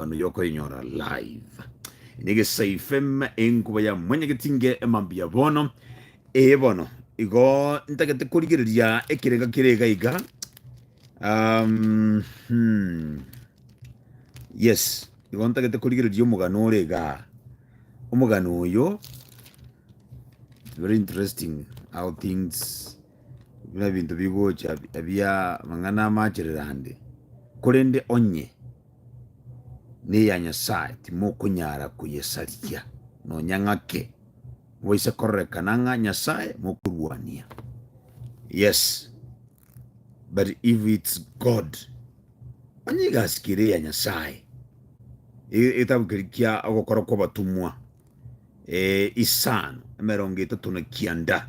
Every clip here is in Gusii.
Manu yokoinyora live nigesayfeme enkuba ya mwanyageti nge emambi ya bono ee bono igo ntagete korigereria ekerega kerega iga um, hmm. yes igo ntagete korigereria omogano ore iga omogano oyo very interesting how things buna ebinto bigocha ebia mang'ana amachererande korende onye neya Nyasae, timokonyara koyesarigia, nonya ng'ake mobaise kororekana ng'a Nyasae mokorwania. Yes, but if it's God, onye egasi kere eya Nyasae, e- egetabu keria kia ogokora kw'abatomwa eh, isano emerongo etato na kianda.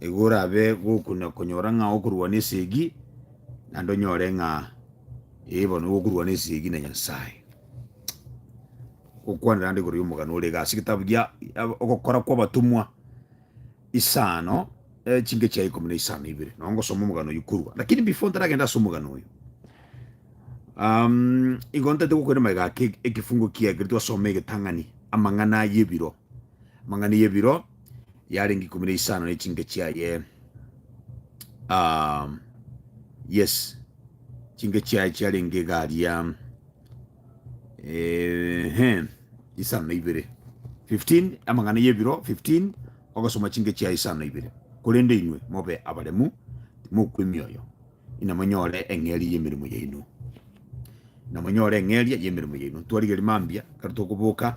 Igo orabe gokuna konyora ng'a okorwana esegi, naende onyore ng'a eh bono nigo okorwana esegi na Nyasaye. Gokwanera ande igoro yomogano ore iga ase egetabu gia ogokora kwa abatomwa isano echinke chia ikomi na isano ibere, nabo ngosoma omogano oyio korwa, lakini before ntaragenda ase omogano oyo, igo ntaete gokoira magega ake ekefungo kiagereti twasoma egetang'ani amang'ana ayebiro, amang'ana yebiro yarenge ikomi na isano ne chinke chiaye ah, yes chinke chiaye chiarenge garia ehe isano na ibere 15 amang'ana y'ebiro 15 ogasoma chinke chiaye isano na ibere korende inwe mobe abaremu timokwemioyo inamonyore eng'eria y'emeremo yaino, inamonyore eng'eria y'emeremo yaino. Twarigeria mambia, ekero tokoboka,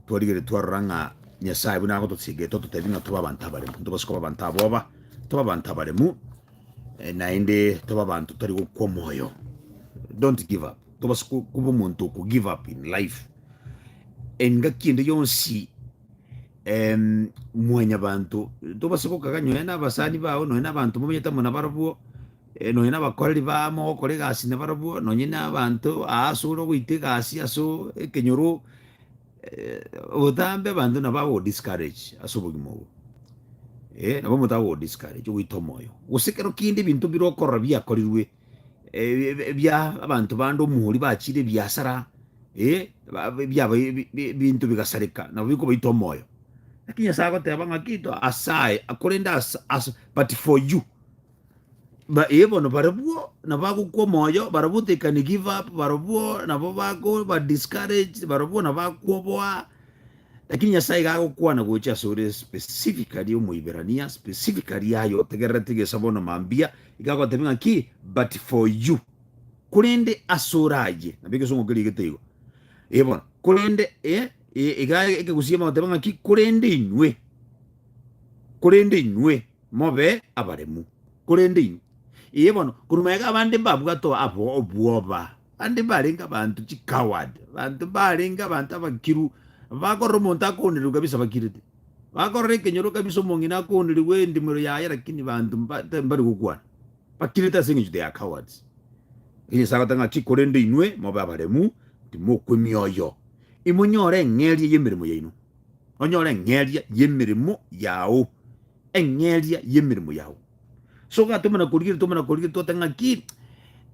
twarigeria twarora ng'a Nyasae buna agotochigeta ototebia ng'a tobe abanto abaremu, ntobase koba abanto aboba, tobe abanto abaremu, eh, naende tobe abanto tari gokwa omoyo. Don't give up. Tobase ko- koba omonto oko give up in life. Engaki ende yonsi em, mwanyabanto tobase gokaga nyonya nabasani bao nonya nabanto momanyete amo nabarabwo eh, nonya nabakoreri baa mogokora egasi nabarabwo nonya nabanto aase ore ogoita egasi ase o- ekenyoro eh, obotambe abanto nabo agogodiscourage ase obogima obo Eh, nabo omonto agogodiscourage ogoita omoyo gose ekero kende ebinto bire okorora biakorirwe ebia abanto bande omori bachire ebiasara, eh, ebiabo ebinto bigasareka, nabo bikobaita omoyo. Lakini Nyasae agoteba ng'a kito asaye, korende ase but for you eh, bono barabwo nabo bagokwa omoyo, barabwo they can give up, barabwo nabo bakoba discouraged, barabwo nabo bakoboa, lakini Nyasae iga agokwana gocha asore specifically Omoiberania, specifically aye otegererete egesabo na mambia, Iga agotebia ng'a ki? But for you, korende asore ayio, nabo egesongo keriegete igo, eh, bono, korende, eh, eh, iga ekegusii bagoteba ng'a ki? Korende inwe, korende inwe mobe abaremu, korende inwe, eh, bono, korwa magega abande mbabwate o- abo- obwoba, abande mbarenge abanto chicoward, abanto mbarenge abanto abakiru, bakorora omonto akoonirirwe kabisa bakirete. Bakorora ekenyoro kabisa omong'ina akoonerigwe endimero yaye lakini banto mba tari mbari gokwana. Bakirete ase engencho they are cowards. Ekio Nyasaye agoteba ng'a ki korende inwe mobe abaremu timokwa emioyo. Imonyore eng'eria y'emeremo yaino. Onyore eng'eria y'emeremo yao. Eng'eria y'emeremo yao. Sogatoma na korigereria toma na korigereria twate ng'a ki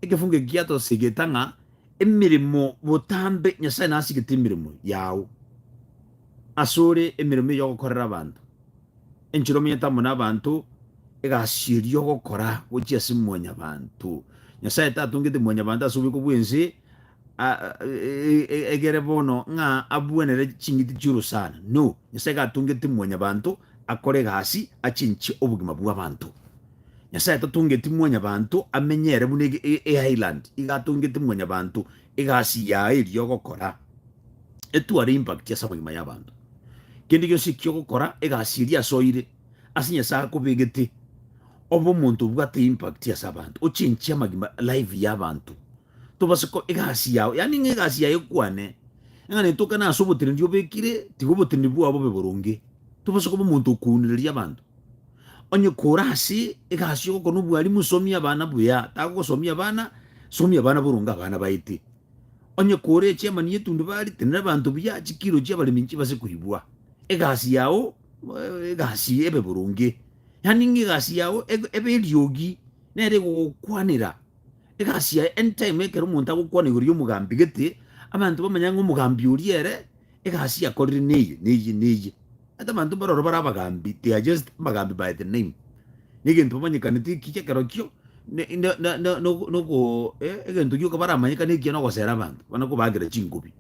ekefungo eki giatosigete ng'a Emeremo botambe, Nyasae nasigete emeremo yao asore, emeremo eyio ogokorera abanto. Enchera omonyete amo nabanto, egasi eria ogokora gochia ase mwanyabanto. Nyasae tatongete mwanyabanto ase oboiko bwense egere bono ng'a abwenere ching'iti chi'ororo sana, no, Nyasae gatongete mwanyabanto akore egasi achenchie obogima bw'abanto. Nyasae tatongeti mwanyabanto amenye ere buna eisland iga atongete mwanyabanto egasi yaye eria ogokora etware impact ase amagima y'abanto. Kende gionsi ekio ogokora egasi eria ase oire ase Nyasae akobegete obe omonto obwate impact ase abanto ochenchie amagima life y'abanto tobase ko egasi yao yaani ng'a egasi yaye ekwane ng'a netokane ase obotenenedi obekire tiga obotenenedi bwao bobe boronge tobase koba omonto okounereria abanto. Onye kore ase egasi y'ogokora nobwalimu somia abana buya, tagogosomia abana, somia abana boronge abana baete. Onye kore echairman y'etundubari, tenena abanto buya, chikiro chi'abaremi nchibase koibwa. Egasi yao egasi ebe boronge, yaani ng'a egasi yao ebe ebe eriogi nere egogokwanera. Egasi yaye anytime ekero omonto agokwana igoro y'omogambi gete, abanto bamanye ng'a omogambi oria ere. Egasi yakorire neye, neye, neye. Ata abanto mbaroro bare abagaambi, they are just abagambi by the name. Negento bamanyekanete ekiya ekerokio ne- ne- ne- ne- nogo- nogo eh, egento gioka baramanyekane ekiya nogosera abanto, bana kobaakera chingobi.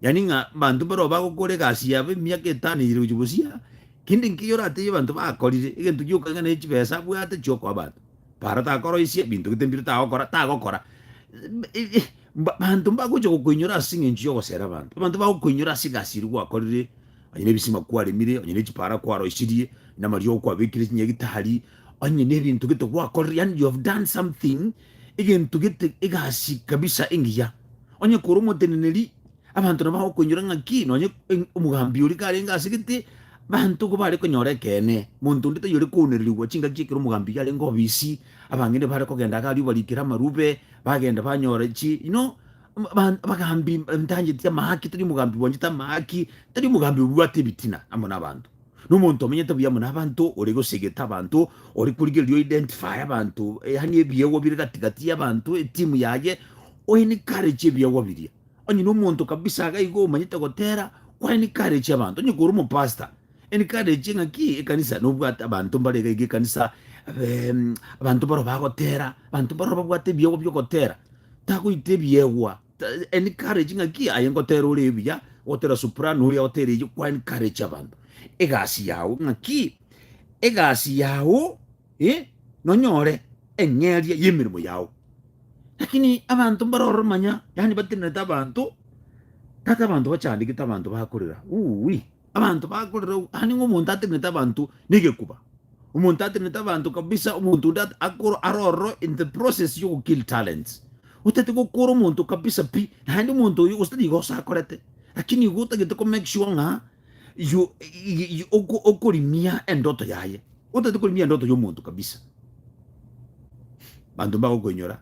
Yaani ng'a abanto mbaroo bagokora egasi yabo emiaka etano eyire gochia bosio, kende nkeiyo oratebie abanto bakorire, egento gioka ng'a ne chibesa abwate chiokoa abanto. Para takoroisia, binto gete mbire tagokora, tagokora. Abanto mbagocha gokoinyora ase engencho y'ogosera abanto, abanto bagokoinyora ase egasi eria gwakorire, onye nebisima kwaremire, onye ne chipara kwaroisirie, onye namariogo kwabekire chinyagitari, onye nebinto gete gwakorire, yaani you have done something, egento gete egasi kabisa engiya. Onye kore omoteneneri, abanto nabo bagokoinyora ng'aki nonye omogambi oria karenge ase gete, abanto igo bare konyora ekeene, monto onde taiyo ore koonererigwa chingaki ekero omogambi iga arenge obisi, abang'ina bare kogenda iga aria obarikera amarube, bagenda banyora chi you know m- ba- abagambi ntanjeti amahaki tari omogambi bwanchete amahaki tari omogambi obwate ebitina amo nabanto na omonto omenyete buya amo nabanto ore gosegete abanto ore korigereria o identify abanto yaani ebiegwa bire gati gati yabanto etimu yaye o encourage ebiegwa biria onye na omonto kabisa iga iga omanyete gotera kwa encourage abanto onye kore omopastor Encourage ng'a ki ekanisa nobwate abanto mbare iga iga ekanisa eh, mm, abanto baro bagotera abanto baro babwate ebiegwa biogotera tagoita ebiegwa Ta- encourage ng'a ki aye ngotera ore ebuya gotera soprano oria gotera eyo kwa encourage abanto egasi yao ng'a ki egasi yao eh, nonyore eng'eria y'emeremo yao lakini abanto mbare ororo manya yani batenenete abanto tata abanto bachandegete abanto bakorera uwi Abanto bakorera obwo, aye nigo omonto atenenete abanto negekuba, omonto atenenete abanto kabisa, omonto onde akoro are ororo in the process yogo kill talents. Otagete gokora omonto kabisa pi, naende omonto oyo gose nigo osakorete, lakini igo otagete ko make sure ng'a you okorimia endoto yaye, otagete korimia endoto ya omonto kabisa. Abanto mbagokoinyora.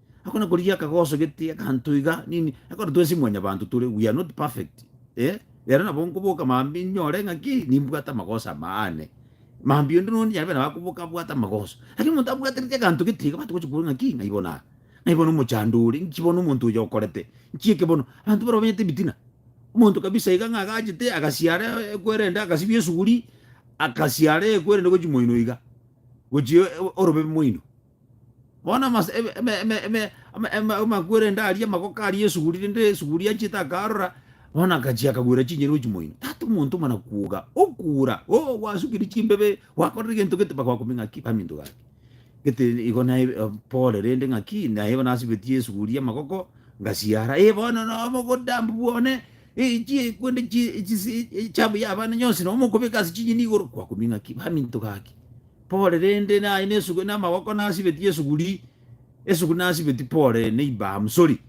Akona korigia akagosogete akanto iga nini ekero twesi mwanyabanto tore we are not perfect eh rero nabo nkoboka mambia inyore ng'a ki nimbwate amagoso amo aane mambia onde nondi nyarebe nabo akoboka abwate amagoso lakini omonto abwatereti aganto getiga abanto bagochi koboria ng'a ki ng'ai bono aa ng'ai bono omochando ore nki bono omonto oyo okorete nki eke bono abanto barobwo banyete ebitina omonto kabisa iga ng'a agachete agasiara e- ekwerende agasibia esuguri akasiara ekwerende gochia moino iga gochia o- orobe moino. Bono amase- eme- eme- eme- eme- ama- ema- amakwerende aria amagoko aria esuguri rende esuguri anchete akarora bono akachia akagwera chinyeni gochia moino tata omonto mana kwoga okura oo gwasukire chimbebe gwakorire egento gete mpaka gwakumia ng'aki baminto gaki gete igo naye pore rende ng'aki naye nasibetie esuguri amagoko ngasiara eh bono no omogotambu bwane eh chie kwende chie chisi echabu ya abana nyonsi nomokobeka ase chinyeni igoro gwakumia ng'aki baminto gaki. Pole rende naye nesugwe namagoko nasibetie esuguri esuguri nasibeti pole neiba am sorry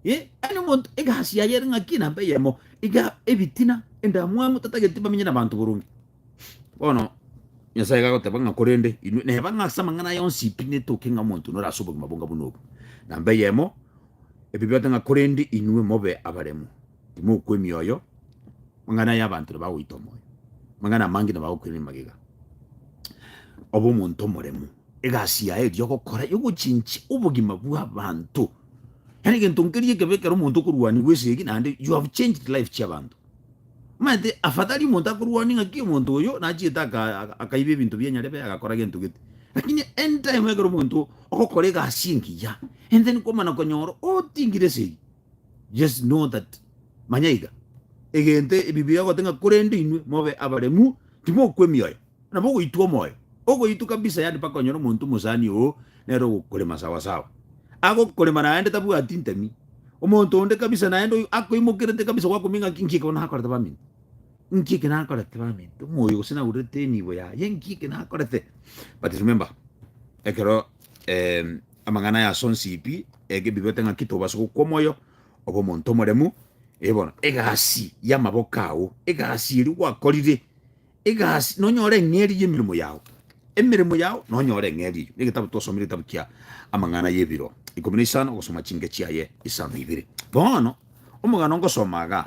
eh yaani omonto egasi yaye ere ng'aki namba eyemo iga ebitina endamwamu tatageti bamenye nabanto boronge bono nyasaye gagoteba ng'a korende inwe neba ng'a ase amang'ana aya onsi pi netoke ng'a omonto nore ase obogima bonga buna obo namba eyemo ebibe ote ng'a korende inwe mobe abaremu timokwa emioyo Amang'ana aya abanto nabagoita omoyo, amang'ana amange nabagokwenia magega. Obe omonto omoremu, egasi yaye eria ogokora yogochinchia obogima bw'abanto. Yaani egento nkeria ekebe ekero omonto okorwanigwa esegi naende you have changed life chiabanto. Omanyete afadhali omonto akorwania ng'aki omonto oyo nachiete aka akaiba ebinto bia Nyarebe agakora gento gete. Lakini anytime ekero omonto ogokora egasi engiya, and then kwamana konyora otingire esegi. Yes, know that, manya iga, egento Ebibilia egote ng'a korende inwe mobe abaremu, timokwa emioyo, nabo ogoitwa omoyo, ogoitwa kabisa, yaani mpaka onyore omonto omosani oo nere ogokorema sawasawa. Agokorema naende tabwati ntemi, omonto onde kabisa naende oyio akoimokerete kabisa gwakumia ng'a inki ekero nakorete baminto, inki eke nakorete baminto, omoyo gose naurerete enibo yaye, inki eke nakorete. But remember, ekero Amang'ana aya ase onsipi eke bibete ng'aki tobase gokwa omoyo obe omonto omoremu. Ee bono, egasi y'amaboko ao, egasi eria gwakorire, egasi nonyore eng'eria y'emeremo yao, emeremo yao nonyore eng'eria eyio. Egetabu twasomire egetabu kia Amang'ana y'ebiro ikomi na isano ogosoma chinke chiaye isano ibere. Bono, omogano ngosoma igaa.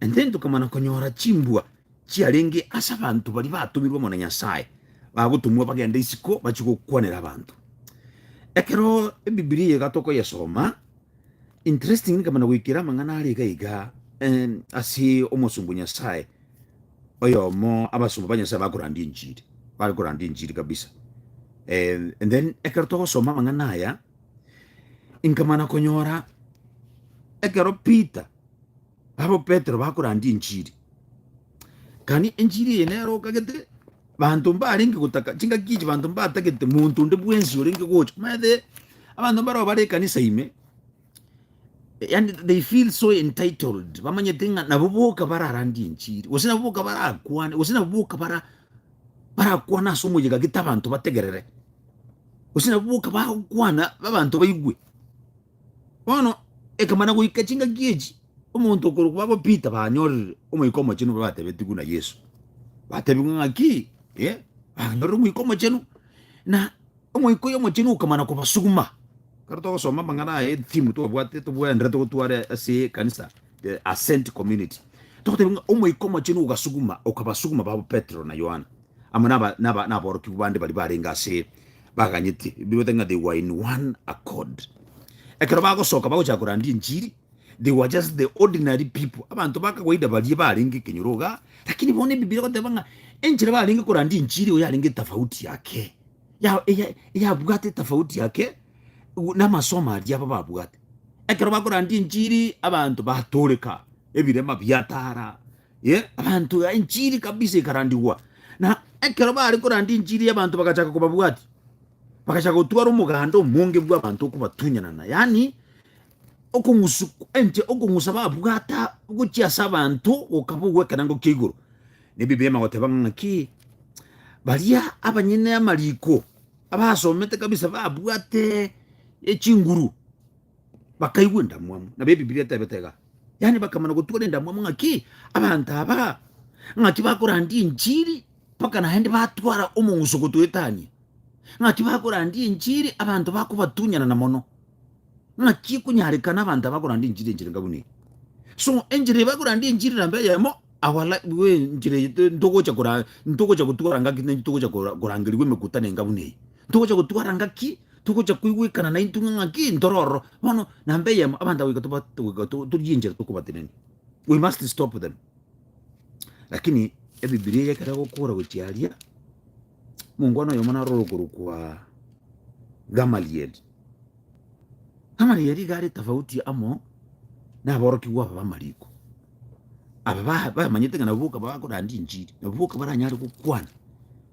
Inche tokamana konyora chimbwa chiarenge ase abanto baria batomirwe amo na Nyasae, bagotomwa bagende isiko bachie gokwanera abanto. Ekero ebibilia eye iga tokoyesoma, interestingly nkamana goikera amang'ana are iga iga ase omosomba o Nyasae oyomo abasomba ba Nyasae bakorandia enchiri, bare korandia enchiri kabisa. And then ekero togosoma amang'ana aya, nkamana konyora ekero Peter Barabwo Petero bakorandia enchiri. Kani enchiri eye nero okagete banto mbarenge gotaka chingaki echi banto mbatagete monto onde bwensi orenge gocha maete abanto mbaro bare ekanisa ime yani they feel so entitled bamanyete ng'a nabo boka bararandie enchiri gose nabo boka barakwane gose nabo boka bara barakwana ase omoyega gete abanto bategerere gose nabo boka bagokwana abanto baigwe Bono ekamana goika chingaki echi, omonto okorokwa babo Pita banyorire Omoika Omochenu batebetigwe na Yesu. Batebigwe ng'aki? Eh, banyorire Omoika Omochenu, na Omoika oyo Omochenu okamana kobasuguma. Kero togosoma amang'ana aya etimu twabwate tobwenerete gotware ase ekanisa, the Ascent Community, togoteba ng'a Omoika Omochenu ogasuguma, okabasuguma babo Petero na Yohana. amo naborokigwa bande baria barenge ase baganyete, bigotaki ng'a they were in one accord. Ekero bagosoka bagochaka korandia enchiri, they were just the ordinary people, abanto ba kawaida baria barenge ekenyoro iga, lakini bono ebibiria egoteba ng'a enchera barenge korandia enchiri igo yarenge etafauti yake, ya eya eyabwate etafauti yake na amasomo aria aba babwate. Ekero bakorandia enchiri abanto batoreka, ebirema biatara. Ye, abanto ya enchiri kabisa ikarandigwa, na ekero bari korandi enchiri y'abanto bagachaka kobabwati, bagachaka gotwara omoganda omonge bw'abanto okobatunyanana, yaani okong'usu enche okong'usa babwata gochia ase abanto gokaba ogw'ekenango kia igoro. Nebi bema goteba ng'a ng'aki baria abanyene amariko abasomete kabisa babwate echinguru bakaigwa endamwamu nabo ebibilia etebete iga yaani bakamana gotwara endamwamu ng'aki abanto aba ng'aki bakorandia enchiri mpaka naende batwara omong'uso gotwetania ng'aki bakorandia enchiri abanto bakobatunyanana mono ng'aki ekonyarekana abanto aba bakorandia enchiri enchera enga buna eye so enchera eye bakorandia enchiri namba eyemo our li- bwe enchera eye to- ntogocha kora- ntogocha gotwara ng'aki naintwe togocha kora- korangerigwa emekutano enga buna eye Togocha gotwara ngaki, togocha koigwekana naintwe ng'a ng'aki ntoro ororo. Bono namba eyemo, abanto goika toba togoika to- torie enchera tokobatenenia. We must stop them. Lakini Ebibilia eye ekero egokora gochia aria, mongwana oyomo naro orokorokwa Gamaliel. Gamaliel iga are tofauti amo na aborokigwa aba b'amariko. Aba ba- bamanyete ng'a nabo boka bakoranda enchiri, nabo boka baranyare gokwana.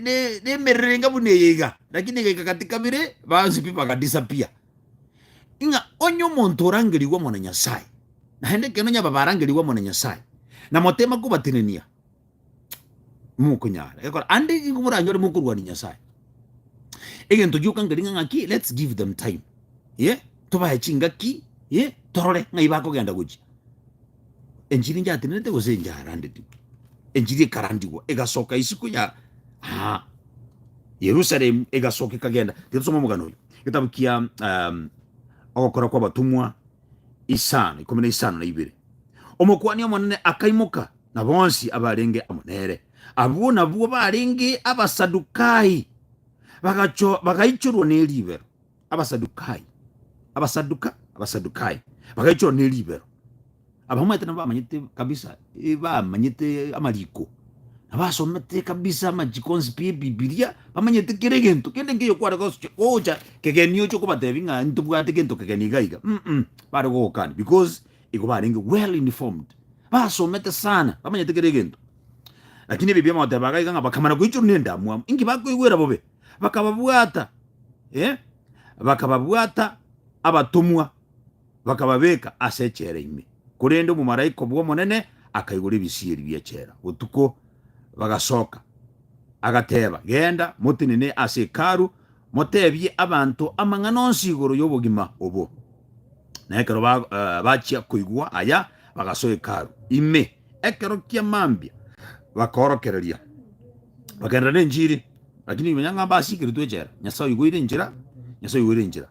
ne- nemererenga buna eye iga lakini igaika gati kabere bansipi bagadisapia ng'a onye omonto orangerigwe omona nyasaye naende ekero nyaba barangerigwe omona nyasaye na motema kobatenenia mokonyara gekora ande nigo moranyore mokorwania nyasaye egento gioka nkeri ng'a ng'aki let's give them time ye tobae chingaki ye torore ng'ai bakogenda gochia. enchiri njatenerete gose enjarandetigwe? Enchiri ekarandigwa, egasoka isiko ya aa Yerusalemu, egasoka ekagenda. Reka tusome omogano oyo, getabu kia um, ogokora kwa abatumwa isano ikomi na isano na ibere. Omokuani omonene akaimoka na bonsi abarenge amo nere, abwo nabwo barenge abasadukai, bagacho bagaichorwa neribero. Abasadukai, Abasaduka, Abasadukai, bagaichorwa ne ribero. Abamaete nabo bamanyete kabisa, eh, bamanyete amariko, nabasomete kabisa amachiko onsi pi ebibilia, bamanyete kera egento kende nkeyo kware gosukia gocha kegeni oche kobatebi ng'a ntobwate gento kegeni iga iga mm mm, bare gogokana because igo barenge well informed, basomete sana, bamanyete kera egento. Lakini ebi biamogoteba iga iga ng'a bakamana koichorwa ne endamwamu, inki bakoigwera bobe, bakababwata bakababwata abatomwa, bakababeeka ase echela ime. Korende omomalaika bw'Omonene akaigora ebisieri bi'echela botuko, bagasoka, agateeba, Genda, motenene ase Hekalu, moteebie abanto amang'ana onsi igoro y'obogima obo. Na ekero bachia koigwa aya, bagasoa Hekalu ime. ekero kia mambia bakaorokereria, bakagenderera nenchiri, lakini ime nyang'aa mbasiikeretwe echela, Nyasae oigwa oire enchera, Nyasae oigwa oire enchera,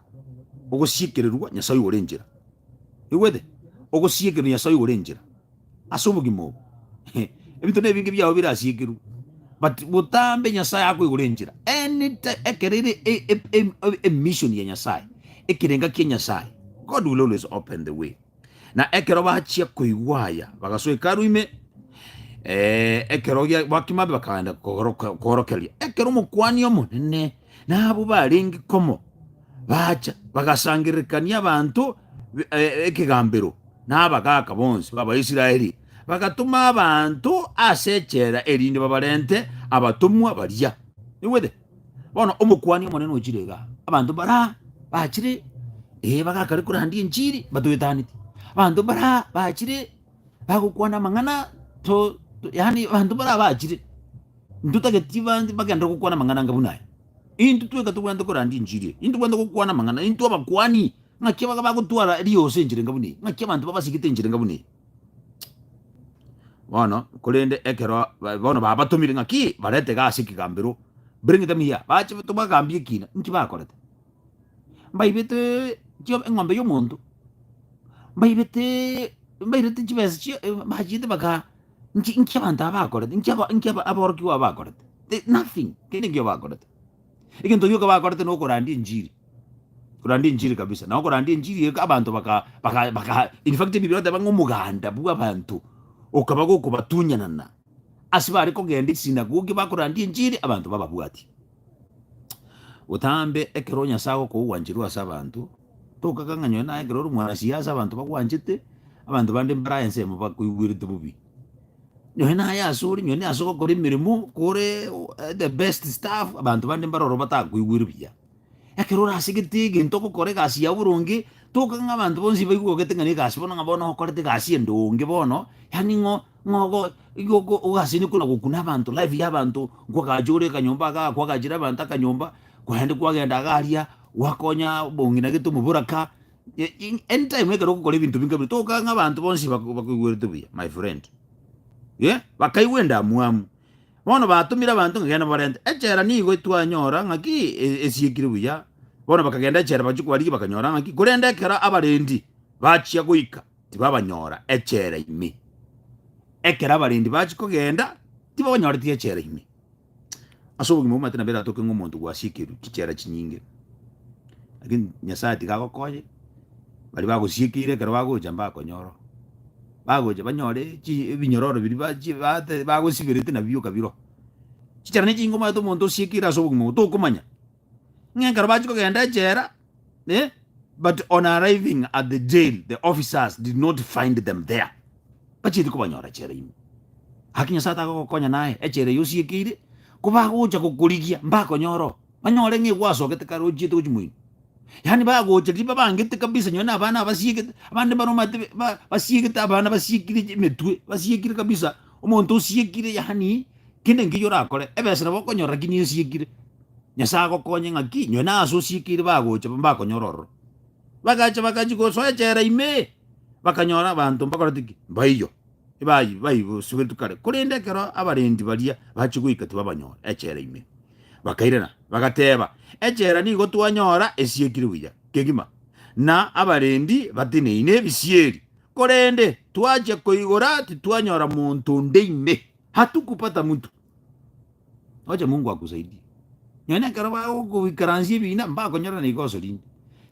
ogosiekererwa Nyasae oigwa ore enchera, oigwete? Ogosiekererwa Nyasae oigwa ore enchera ase obogima obo, ebinto na ebinge biao birasiekerwe, but botambe Nyasae akoigwa ore enchera anytime ekero ere e- e- e- emission ya Nyasae, ekerenga kia Nyasae, God will always open the way. Na ekero bachia koigwa aya, bagasoa Hekalu ime, eh, ekero gia- bakima ime bakaenda kogoroka- koorokereria. Ekero Omokuani Omonene na abwo barenge komo bacha, bagasangererekania abanto be- eh, ekegambero na abagaaka bonsi b'Abaisraeli, bagatoma abanto ase echela erinde babarente abatomwa baria. Naigwete? Bono omokuani omonene ochire iga, abanto bara bachire ee bagakare korandia enchiri batoetaneti, abanto bara bachire bagokwana amang'ana to, to yani abanto bara bachire ntotageti bande bagende gokwana amang'ana anga buna aya. Intwe tweka tobwenerete korandia enchiri eye, intwe tobwenerete gokwana amang'ana, intwe abakuani ng'aki baga bagotwara erioso enchera enga buna eye, ng'aki abanto babasigete enchera enga buna eye. Bono korende ekero ba- bono babatomire ng'aki barete gasi ekegambero bring them here, bache tobagambie ekina nki bakorete. Mbaibete chio eng'ombe ya omonto, mbaibete mbairete chibesa chia bachiete bagaa nki nki abanto aba bakorete, nki aba nki aba aborokigwa aba bakorete, the nothing, tindi ekio bakorete. Egento gioka bakorete nokorandia enchiri, korandia enchiri kabisa, na okorandia enchiri eke abanto baka baka baka in fact Bibilia egoteba ng'a omoganda bw'abanto okaba gokobatunyanana ase bare kogenda esinagogi bakorandia enchiri abanto bababwatia. Botambe ekero Nyasaye agokoa ogwancherwa ase abanto, tokaka ng'a nonye naye ekero ore omwanasiasa abanto bagwanchete, abanto bande mbare aa ensemo bakoigwerete bobe. Nonye naye ase ore nonye ase ogokora emeremo kore the best staff abanto bande mbare ororo batakoigwere buya. Ekero orasegete egento ogokora egasi yao boronge, toka ng'a abanto bonsi baigwe ogete ng'a na egasi bono ng'a bono okorete egasi ende onge bono, yaani ng'o ng'a ogo igo oko ogasene kona gokuna abanto life ya abanto nkogacha ore akanyomba iga akwagachire abanto akanyomba, korende kwagenda iga aria gwakonya bongi na gete omobura ka, Anytime ekero ogokora ebinto binke bire toka ng'a abanto bonsi bako- bakoigwerete buya, my friend. Eh, bakaigwa endamwamu. Bono batomire abanto ng'a genda mobarente. Echela nigo twanyora ng'aki e- esiekire buya, bono bakagenda echela bachia kobarigia bakanyora ng'aki, korende ekero abarendi bachia goika, tibabanyora echela ime. Ekero abarendi bachia kogenda, tibabanyoreti echela ime. Ase obogima bw'amaete nabo eratoke ng'a omonto gwasiekerwe chichera chinyinge, lakini Nyasaye tiga agokonye, baria bagosiekeire ekero bagocha mbakonyora oo, bagocha banyore chi- ebinyororo biria bachi bate bagosiberete nabio okabiroa. Chichera ne chinyinge omanyete omonto osiekeire ase obogima obo tokomanya. Ng'a ekero bachia kogenda echela, eh, but on arriving at the jail, the officers did not find them there. Bachieti kobanyora echela ime. Gaki Nyasae takogokonya naye, echela eye osiekeire, kobagocha gokorigia, mbakonyore oo. Banyore ng'a egwasogete kare ochiete gochia moino. Yaani bagocha riria babangete kabisa nonye na abana abasiegete, abande mbare omanyete be- ba- basiegete abana basiekire emetwe, basiekire kabisa, omonto osiekire yaani. Kende nkeyio orakore, ebesa nabo okonyora ki nesiekire. Nyasae agokonye ng'aki nywe na ase osiekeire bagocha mbakonyora ororo. Bagacha bagachia gosoa echela ime, bakanyora abanto mbakorete ki? Mbaiyo. Ebayi baibosugetwe kare, korende ekero abarendi baria bachia goika tibabanyora echela ime. Bakairana, bagateba, Echela nigo twanyora esiekire buya kegima, na abarendi bateneine ebisieri, korende twachia koigora titwanyora monto onde ime. hatukupata mtu oche mungu akusaidie nonye ekero bagokoikaransia ebina mbakonyora naiga oso rinde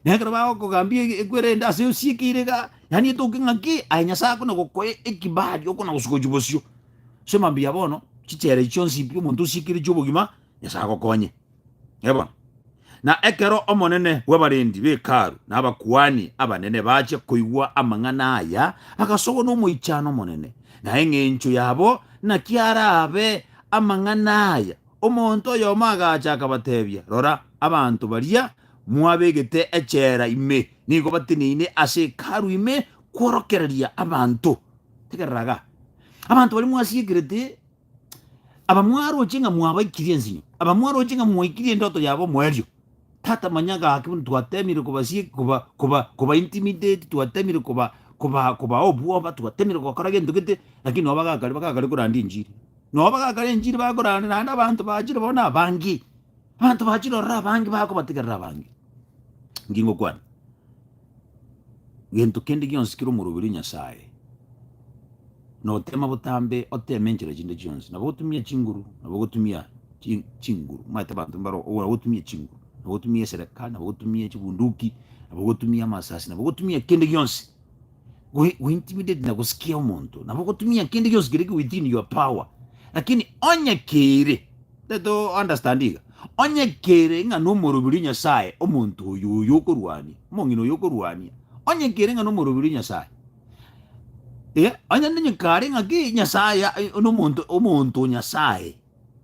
nonye ekero bagokogambia e- ekwere ende ase osiekeire iga yaani etoke ng'aki aye nyasaye akona gokoa ekibali okona gosuka gochia bosio so mambia bono chichere chionsi pi omonto osiekire chiobogima nyasaye agokonye Ee bono. Na ekero omonene bw'abarendi b'Hekalu na abakuani abanene bachia koigwa amang'ana aya, agasogwa n'omoichano omonene, na eng'encho yabo naki arabe amang'ana aya, omonto oyomo agacha akabatebia, Rora, abanto baria mwabegete echela ime nigo bateneine ase Hekalu ime kworokereria abanto. Tegerera iga. Abanto baria mwasiekerete Abamwaroche ng'a mwabaikirie ensinyo, abamwaroche ng'a mwaikirie endoto yabo omoerio. Tata manya gaki buna twatemire kobasie koba koba koba intimidate, twatemire koba koba koba obwoba, twatemire gokora gento gete, lakini nabo bagakare bagakare koranda enchiri. Nabo bagakare enchiri bakorande naende abanto bachire bono na abange, abanto bachire ororo abange bakobategerera abange. Inki ngokwana? gento kende gionsi kere omoroberio Nyasae, na otema botambe, oteme enchera chinde chionsi, nabo otumia chinguru, nabo ogotumia chi- chinguru, omanyete abanto mbaro ogora gotumia chinguru, nabo otumia esereka, nabo otumia chibunduki, nabo ogotumia amasasi, nabo ogotumia kende gionsi go- go intimidate na gosikia omonto, nabo ogotumia kende gionsi kere within your power, lakini onye keire Tari to understand iga? Onye kere ng'a nomoroberio Nyasaye omonto oyo oyo okorwania, omong'ina oyo okorwania, onye kere ng'a nomoroberio Nyasaye, eh, onye nonye kare ng'a ki Nyasaye ya- eh, nomonto omonto o Nyasaye,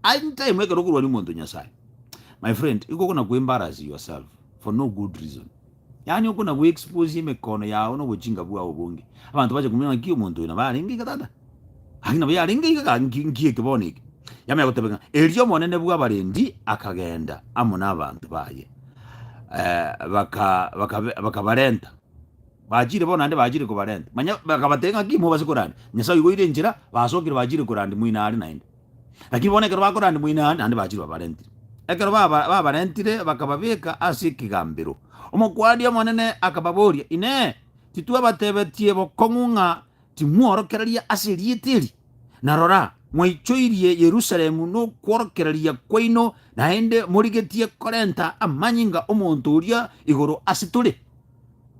anytime ekero okorwania omonto o Nyasaye, my friend, igo okona ku-embarrass yourself for no good reason. Yaani oko na gw'exposia emekono yao na obochinga bwao obonge. Abanto bache komanya ng'aki omonto oyo nabo arenge iga tata. Gaki nabo yarenge iga ga nki nki eke bono eke. Yamanya goteba ng'a erio omonene bw'abarendi akagenda amo n'abanto baye, eh, baka bakabe bakabarenta. Bachire bono ande bachire kobarenta. Manya bakabatebia ng'aki mobase koranda. Nyasae oiboire enchera, basokire bachire koranda moino are naende. Lakini bono ekero bakorande moino aa, naende bachire babarentire. Ekero baba- babarentire bakababeka ase ekegambero. Omokuani omonene akababoria, Inee! Titwabatebetie bokong'u ng'a timworokereria ase erieta eri? Na rora, mwaichoirie Yerusalemu nokworokereria kwaino, naende morigetie korenta amanyinga 'omonto oria igoro ase tore.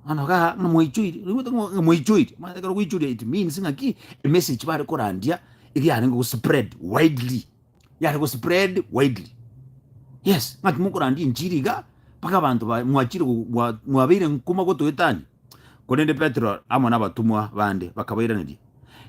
Mano ga ng'a moichoiri, oigwete ng'a ng'a moichoiri, omanyete ekero ogoichoria it means ng'a ki, emessage bare korandia eri yarenge go spread widely, yare go spread widely, yes, ng'a timokorandia enchiri iga mpaka abanto baye mwachire gogo mwa mwabeire nkuma gotoetania, korende Petero amo nabatomwa bande bakabairaneria,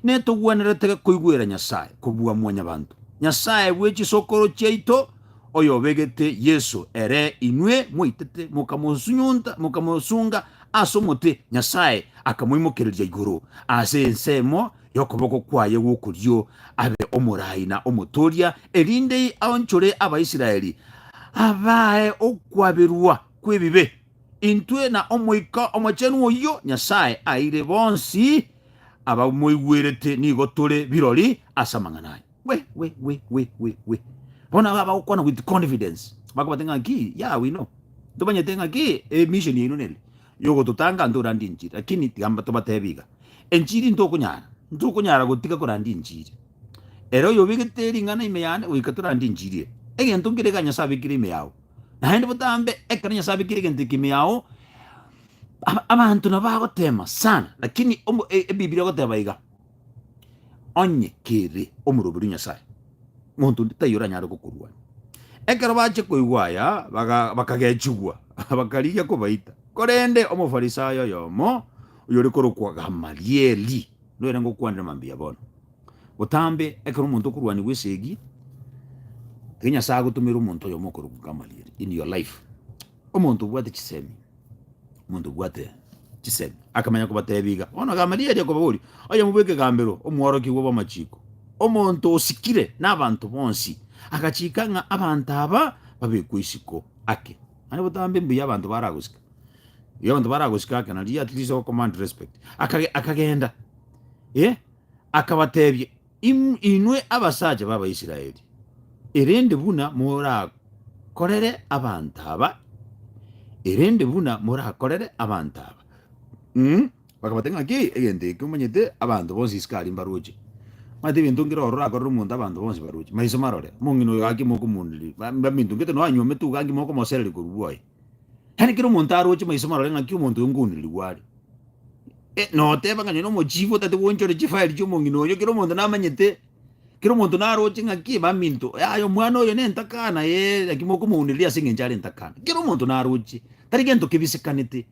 netogwenerete koigwera Nyasae kobua Mwanyabanto, Nyasae bwe chisokoro chiaito, oyobegete Yeso, ere inwe mwaitete mokamosunyunta, mokamosunga ase omote, Nyasae akamoimokereria igoro ase ensemo y'okoboko kwaye gw'okorio, abe omorai na omotooria, erinde aonchore Abaisraeli, abae okwaberwa kw'ebibe. Intwe na Omoika Omochenu oyio Nyasae aeire bonsi abamoigwerete nigo tore birori ase amang'ana aye. We, we, we, we, we, we. Bono aba abagokwana with confidence bakobate ng'a ki, yeah, we know. Tomanyete ng'a ki e mission yaino nere yogototanga nto orande enchiri, lakini tiga tobatebi iga, enchiri ntokonyara, ntokonyara gotiga koranda enchiri. Ere oyobegete ring'ana ime yane goika torande enchiri eye. Egento nkere iga Nyasae abekire ime yao. Naende botambe ekero Nyasae abekire egento eke ime yao, ab- abanto nabo bagotema sana, lakini omo- e- Ebibilia egoteba iga, onye kere omoroberi o Nyasae, monto onde taiyo oranyare gokorwania. Ekero bachia koigwa aya, baga- bakagechigwa, bakarigia kobaita. Korende Omofarisayo oyomo, oyore korokwa Gamalieli, noyorenge okwanire mambia bono. Botambe ekero omonto okorwanigwa esegi, ekero Nyasae agotomera omonto oyomo okorokwa Gamaliel in your life, omonto obwate chisemi, omonto obwate chisemi, akamanya kobatebia iga, bono Gamalieli akobaboria, oyomo bw'ekegambero, omworokigwa bw'amachiko, omonto osikire n'abanto bonsi, agachika ng'a abanto aba babekwe isiko ake. Naende botambe mbuya abanto baragosika, mbuya abanto baragosika ake, nario at least okommand respect. Akage- akagenda, eh. Akabateebia, Inwe abasacha b'Abaisraeli, erende buna morakorere abanto aba, erende buna morakorere abanto aba. Mm, bakabate ng'aki egento eke omanyete abanto bonsi isiko aria mbaroche. Omanyete egento nkere oro orakorere omonto abanto bonsi baroche, maiso marore, omong'ina oyo gaki mokomuundereria, ba- bamintungete, nonya nywomete uga nki mokomosereria korwa bwoye. Yaani kera omonto aroche maiso marore ng'aki omonto oyo nkoonirigwa are. Eh, noteba ng'a nonye nomochifu otate gwenchore chifaeli chi'omong'ina oyo, kera omonto namanyete, kera omonto naroche ng'aki eba minto, yaya omwana oyo nentakana, ee, naki mokomounireria ase eng'encho are entakana. Kera omonto naroche, tari gento kebisikanete.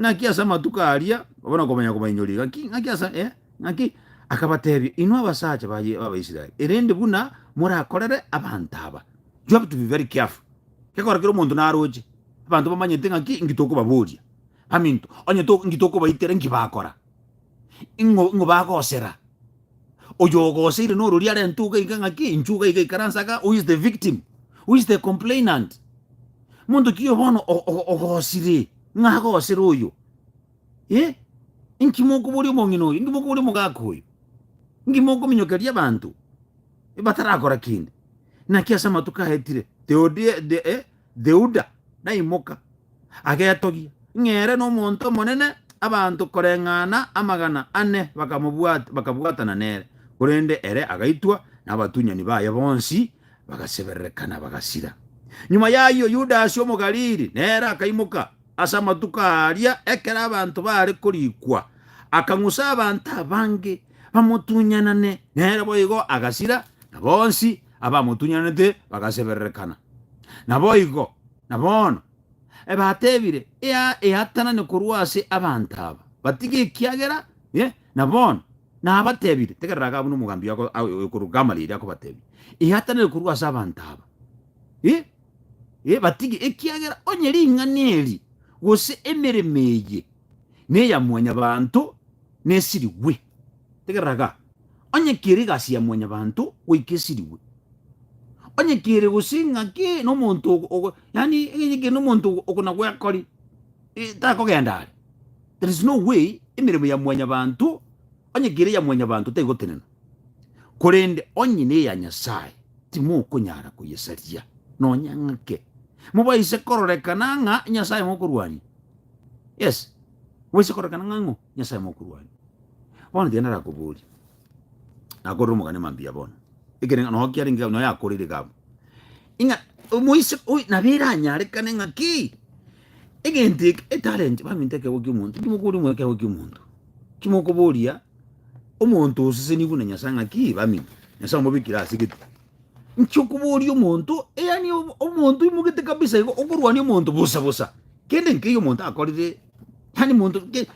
ng'aki ase amatuko aria obe nokomanya kobainyoria ng'aki ng'aki ase eh, ng'aki akabatebia inwe abasacha ba Ye- abaisraeli erende buna morakorere abanto aba you have to be very careful gekora kera omonto naroche abanto bamanyete ng'aki inki tokobaboria baminto onye to- inki tokobaitera inki bakora ing'o ing'o bagosera Oyogoseire nororia arente iga iga ng'aki, inchuo iga iga ikaranse aka, who is the victim? Who is the complainant? Monto ki oyo bono o- o- ogosire ng'a agosere oyo? Eh? Inki mokoboria omong'ina oyo? Inki mokoboria omogaka oyo? Inki mokominyokeria abanto batarakora kende? Naki ase amatuko aetire Theodia, the, eh, Theuda, naimoka, agetogia, ng'a ere nomonto omonene, abanto koreng'ana amagana ane bakamobwata, bakabwatana nere, korende ere agaitwa, na abatunyani baye bonsi bagaseberereka na bagasira. Nyuma y'ayio Yudasi Omogalili nere akaimoka ase amatuko aria ekero abanto baare korikwa, akang'usa abanto abange bamotunyanane nere, boigo agasira, na bonsi abamotunyanete bagasebererekana. Naboigo, na bono, ebe atebire, Eatanane korwa ase abanto aba, batige ekiagera, ee, na bono, nabatebire, tegerera iga buna omogambi oyokorwa Gamalieli akobatebia, Eatanane korwa ase abanto aba, ee, ee, batige, ekiagera onye ring'ana eri, gose emeremo eye, neya mwanyabanto, nesirigwe. Egeraga, onye kere egasi ya mwanyabanto goika esirigwe, onye kere gose ng'aki nomonto ogo, yaani onye kere nomonto oko na gwekori, takogenda are. There is no way emeremo ya mwanyabanto, onye kere eya mwanyabanto tegotenena, korende onye neya Nyasae timokonyara koyesaria nonya ng'ake. Mobaise kororekana ng'a Nyasae mokorwania. Yes. Bwensi korokana ng'a ng'o Nyasae mokorwani. Bono tiga narakoborie, nakorera omogani mambia bono, ekereng'a noo kiarenge gabo, nonya yakoreire gabo, ing'a omoise oyo nabo eranyarekane ng'a ki, egento eke, etalent, baminto ekegwa ki'omonto, timokoria omonto ekegwa ki'omonto, timokoboria omonto oseseniwe buna Nyasae ng'a ki, baminto, Nyasae omobekire ase egetugi. Inche okoboria omonto, yaani omonto oimogete kabisa igo, okorwania omonto bosa bosa, kende nkeiyo omonto akorire, yaani monto ke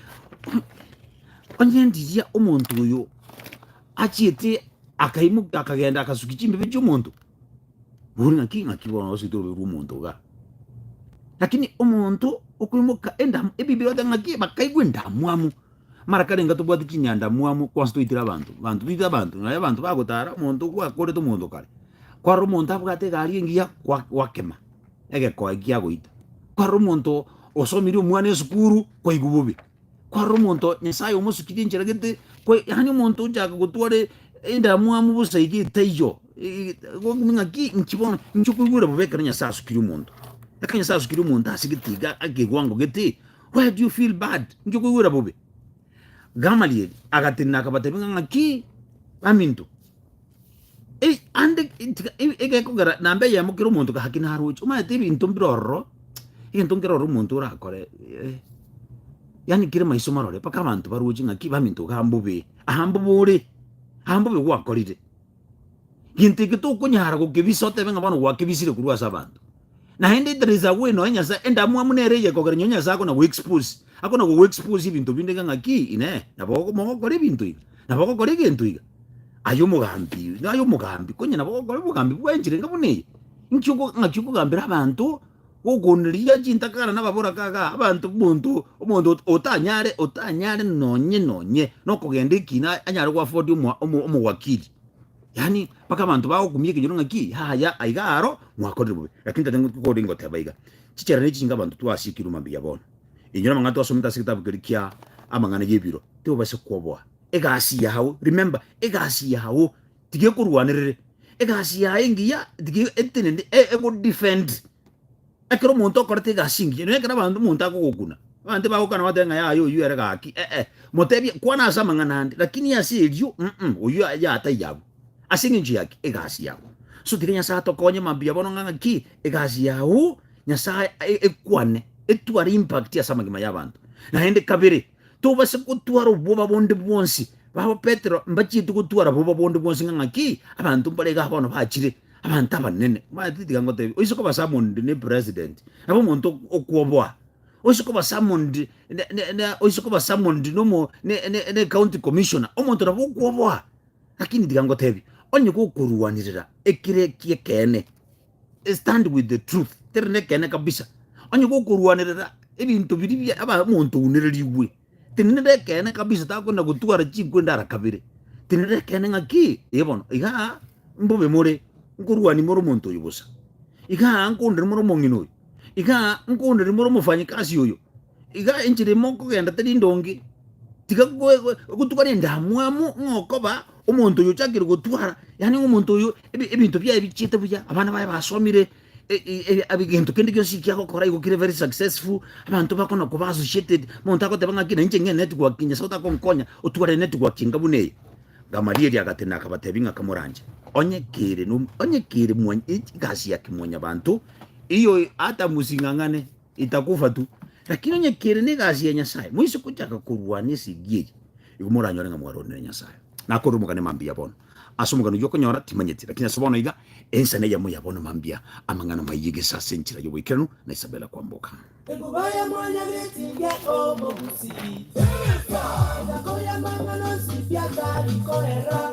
onye ndiria omonto oyo achiete akaimoka akagenda akasukia chimbebe chi'omonto, bori ng'aki ng'aki bono ogosuete ororo rwa omonto igaa. Lakini omonto okoimoka endam ebibero ote ng'aki bakaigwa endamwamu. Mara kare enga tobwate chinyandamwamu kwanse toitire abanto banto toitire abanto naye abanto bagotara omonto gwakorete omonto kare kwarora omonto abwate egari engiya gwa- gwakema egekoe giagoita kwarora omonto osomirie omwana esukuru kwaigwa bobe kwarora omonto nyasaye omosukirie enchera gete kwa yaani omonto ochaka gotwara e- endamwamu bosa iga etaiyo e- egokumi ng'aki inki bono inki okoigwera bobe ekero nyasaye asukirie omonto ekero nyasaye asukirie omonto ase gete iga ake ekewango gete Why do you feel bad? Inche koigwera bobe. Gamaliel agatenena akabatebia ng'a ng'aki baminto. Ei, ande tika- e- egekogera namba eyemo kera omonto gaki naroche omanyete ebinto mbire ororo egento nkere ororo omonto orakore eh, yaani kere maiso marore mpaka abanto baroche ng'aki baminto iga mbobe aha mbobe ore aha mbobe gwakorire Gento eke tokonyara gokebisa otebe ng'a bono gwakebisire korwa ase abanto. Naende there is a way nonya Nyasae, endamwamu nere eye ekogera nonya Nyasae akona go expose, akona go expose ebinto binde iga ng'aki inee, nabo ogo mogokora ebinto iga, nabo ogokora egento iga, aye omogambi oyo, aye omogambi, konye nabo ogokora obogambi bwa enchera enga buna eye. Inki oko ng'aki okogambera abanto Gokoonderia chintakana nababorakaga abanto monto omonto otanyare otanyare nonye nonye nokogenda ekina anyare goafodia omo omo omowakiri yaani mpaka abanto bagokumia ekenyoro ng'aki yaya aiga aro mwakorire bobe lakini tata ng'o kore ngoteba iga chichera ne chinga abanto twasiekirwe mambia bono enyora amang'ana twasomete ase egetabu keria kia amang'ana yebiro tobasa koboa egasi yao remember egasi yao tigekorwanerere egasi yaye engiya tige etenende e- egodefend ekero omonto okorete egasi engiya nonye ekero abanto omonto akogokuna abanto bagokana bateba ng'a yaya oyio ere gaki ee motebie kwana ase amang'ana ande lakini ase erio mm oyio ya taiyo abwo ase eng'encho ya ki egasi yabo so tiga nyasae atokonye mabuya bono ng'a ng'aki egasi yago nyasae e- ekwane etware impact ase amagima y'abanto naende kabere. tobase gotwara obwoba bonde bwonsi. Babo Petero mbachiete gotwara boba bonde bwonsi ng'a ng'aki abanto mbare iga bono bachire abanto abanene. Omanyete tiga ngotebi, oise koba summoned ne president, nabo omonto ok- okwoboa. Oise koba summoned ne- ne- ne oise koba summoned nomo ne- ne- ne county commissioner, omonto nabo okwoboa. Lakini tiga ngotebi, onye gokoruanirera ekere eki'ekeene, I stand with the truth, kere nekeene kabisa. Onye gokorwanerera ebinto biria bia aba monto ounererigwe, tindi nere ekeene kabisa, takwenda gotwara chinkwe ndara kabere. Tindi nere ekeene ng'aki ee bono, iga mbobe more, nkorwani more omonto oyo bosa, iga nkoonderie more omong'ina oyo, iga nkoonderie more omofanyikasi oyo, Iga inche rimo nkogenda tari ndonge, tiga gotugana endamwamu ng'a okoba omonto oyo ochakire gotwara, yaani ng'a omonto oyo ebinto biaye bichiete buya, abana baye basomire, egento kende gionsi eki agokora igo kere very successful, abanto bakona koba associated, omonto agoteba ng'aki nainche ng'e enetwork Nyasae otakonkonya otware enetwork enga buna eye. Gamalieli agatenena akabatebia ng'a kamoranche, onye kere onye kere egasi ya kemwanyabanto, eyio ata mosing'ang'ane. Itakufa tu, lakini onye kere negasi ya Nyasae, moise gochaka korwana esegi eye, igo moranyore ng'a mwaronire Nyasae. Nakorire omogani mambia bono. Ase omogani oyio okonyora, timanyeti, lakini ase bono iga, ense neyemo ya bono mambia, amang'ana maiye gese ase enchera y'oboikeranu na Isabela kwamboka. Ekoboya mwana bw'etinga omogusi, na koira mang'ana onsi biatari korera.